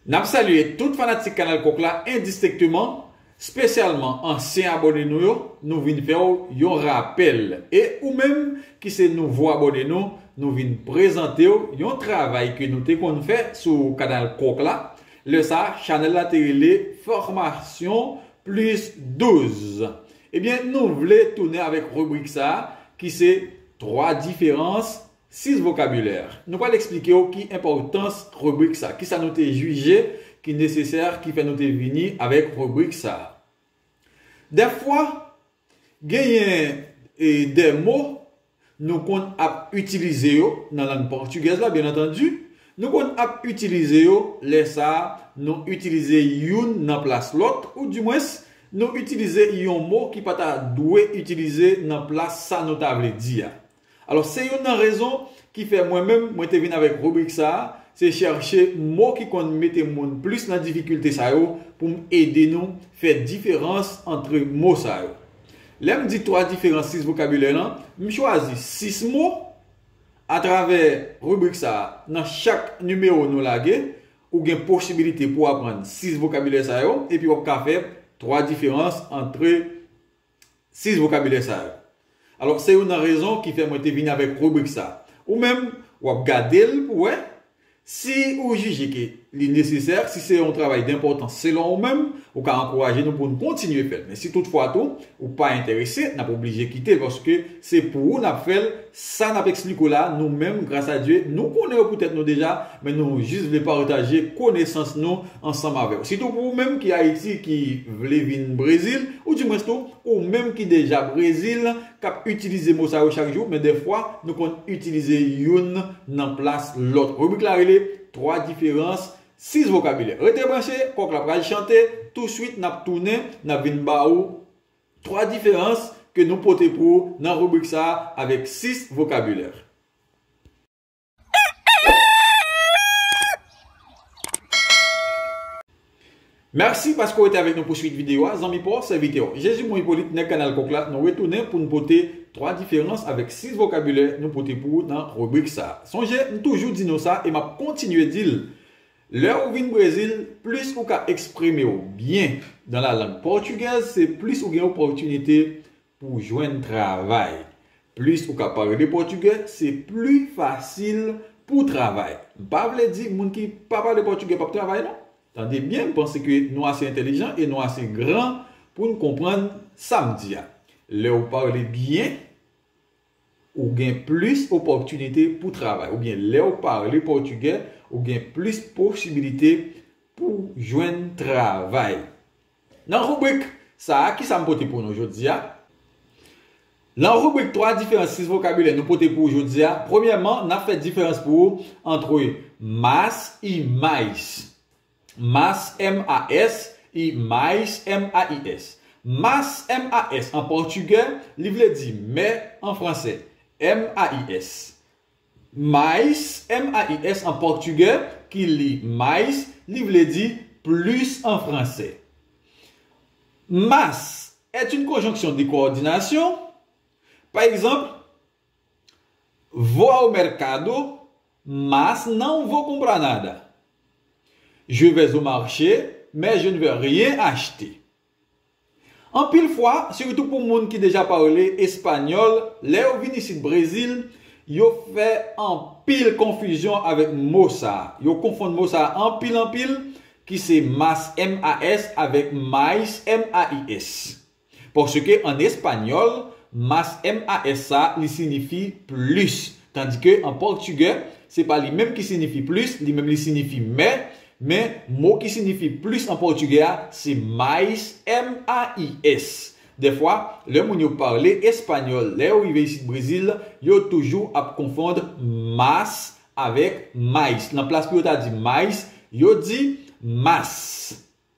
Nap salye tout fanatik kanal kok la endistenkteman, spesyalman ansyen abone nou yo, nou vin fèw yon rapèl e ou menm ki se nouvo abone nou, nou vin prezantew yon travay ke nou te konn fè sou kanal kok la, lè sa chanèl la te rele Formasyon plis 12 ebyen nou vle tounen avèk ribrik sa ki se 3 diferans 6 vokabilè. Nou pral eksplike w ki enpòtans ribrik sa, kisa nou te jije ki nesesè ki fè nou te vini avèk ribrik sa. Dèfwa, genyen de mo nou konn ap itilize yo nan lang pòtigèz la, byennantandi, nou konn ap itilize yo, lè sa nou itilize youn nan plas lòt, ou di mwens, nou itilize yon mo ki pa ta dwe itilize nan plas sa nou ta vle di a. Alò se youn nan rezon ki fè mwen menm mwen te vin avèk ribrik sa a, se chèche mo ki konn mete moun plis nan difikilte sa yo pou m ede nou fè diferans antre mo sa yo. Lè m di twa diferans sis vokabilè lan, m chwazi sis mo atravè ribrik sa a. Nan chak nimewo nou lage, ou gen posibilite pou aprann sis vokabilè sa yo epi w ap ka fè twa diferans antre. 6 vokabilè sa yo. Alò, se youn nan rezon ki fè mwen te vini avèk ribrik sa. Ou menm, w ap gade l pou wè, si ou jije ke li nesesè, si se yon travay denpòtans selon ou menm, ou ka ankouraje nou pou n kontinye fè l. Men si toutfwa tou, ou pa enterese, n ap oblije kite l paske Se pou ou nap fèl, sa nap expliko la nou menm gras a Dye nou konnen yo pou tèt nou deja men nou jis vle pataje konesans nou ansanm avèw. Sitou pou ou menm ki Ayiti ki vle vin Brezil ou di mwens tou ou menm ki deja Brezil kap itilize mo sa yo chak jou men dèfwa nou konn itilize youn nan plas lòt. Ribrik la rele 3 diferans 6 vokabilè. Rete branche, kòk la pral chante, tou swit nap tounen nap vin ba ou. 3 diferans ke nou pote pou ou nan ribrik sa a avèk 6 vokabilè. Mèsi paske w rete avèk nou pou swit videyo a, zanmi pa w, sèvitè w. Jezimon Ipolit, nèg Kanal Kòk la, nou retounen pou n pote 3 diferans avèk 6 vokabilè nou pote pou ou nan ribrik sa a. Sonje, m toujou di nou sa e m ap kontinye di l, Lè ou vin Brezil, plis ou ka eksprime w byen dan la lang pòtigèz se plis ou gen opòtinite pou w jwenn travay. Plis ou ka pale pòtigè se pli fasil pou w travay. M pa vle di moun ki pa pale pòtigè p ap travay non. Tande byen m panse ke nou ase entelijan e nou ase gran pou n konprann sa m di a. Lè ou pale byen Ou gen plis opòtinite pou travay oubyen lè ou pale pòtigè ou gen plis posibilite pou jwenn travay. Nan ribrik sa a, kisa m pote pou nou jodi a? Lan ribrik 3 diferans 6 vokabilè nou pote pou ou jodi a, premyèman, n ap fè diferans pou ou antre mas e mais. Mas, M-a-s, y mais, M-a-i-s. Mas, M-a-s, an pòtigè, li vle di mè an fransè. M-a-i-s. Mais, M-a-i-s, an pòtigè, ki li mais, li vle di plis an fransè. Mas est une conjonction de coordination, pa egzanp, Vou ao mercado, mas não vou comprar nada. Je vais au marché, mais je ne vais rien acheter. Anpil fwa, sitou pou moun ki deja pale espanyòl, lè yo vin isit Brezil, yo fè anpil konfizyon avèk mo sa a. Yo konfonn mo sa a anpil anpil, ki se mas, m-a-s, avèk mais, m-a-i-s. Paske an espanyòl, mas, m-a-s sa a, li sinifi plis. Tandi ke an pòtigè, se pa li menm ki sinifi plis, li menm li sinifi mè, men, mo ki sinifi plis an pòtigè a, se mais, m-a-i-s. Dèfwa, lè moun yo pale espanyòl, lè yo rive isit Brezil, yo toujou ap konfond mas avèk mais. Nan plas pou yo ta di mais, yo di mas.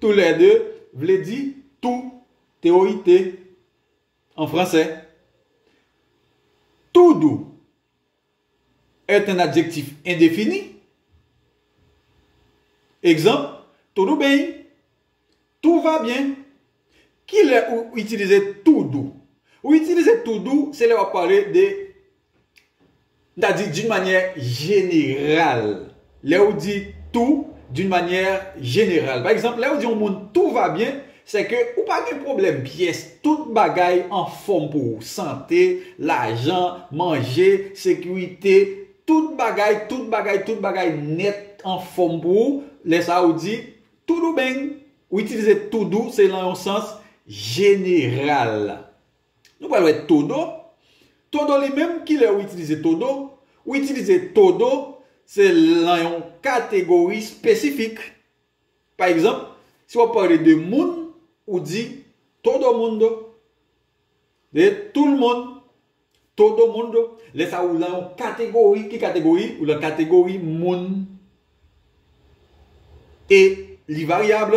Tou lè de vle di tou, teori te, an fransè. Tou dou est un adjectif indefini. Egzanp, Tudo bem, Tout va bien. Ki lè ou itilize tou dou? Ou itilize tou dou se lè w ap pale de M ta di d'une manière générale. Lè ou di tout d'une manière générale. Pa egzanp, lè ou di yon moun tout va bien, sè ke ou pa gen pwoblèm pyès, tout bagay anfòm pou ou. Sante, lajan, manje, sekirite, tout bagay, tout bagay, tout bagay nèt anfòm pou ou. Lè sa a ou di toudou beng. Ou itilize toudou se lan yon sans jeneral. Nou pral wè todo. Todo li menm, ki lè ou itilize todo? Ou itilize todo se lan yon kategori espesifik. Pa egzanp, si w ap pale de moun, ou di todo mundo. De toul moun. Todo mundo. Lè sa ou lan yon kategori. Ki kategori? Ou lan kategori moun. E li varyab.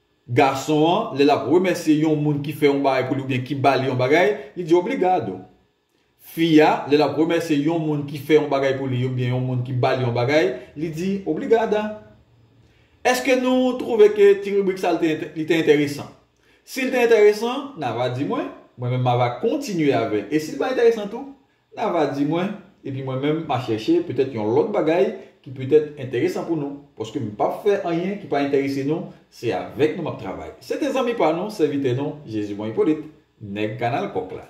Gason an, lè l ap remèsye yon moun ki fè yon bagay pou li oubyen ki ba li yon bagay, li di obrigado. Fi a, lè l ap remèsye yon moun ki fè yon bagay pou li oubyen yon moun ki ba li yon bagay, li di obrigada. Èske nou twouve ke ti ribrik sa li te enteresan? Si l te enteresan, n a va di mwen, mwen menm m a va kontinye avè l. E si l pa enteresan tou, N'a va di mwen, epi mwen menm m'a chèche petèt yon lòt bagay ki petèt enteresan pou nou, paske m p'ap fè anyen ki pa enterese nou, se avèk nou m'ap travay. Se te zanmi pa nou, sèvitè nou, Jezimon Ipolit, nèg kanal kòk la.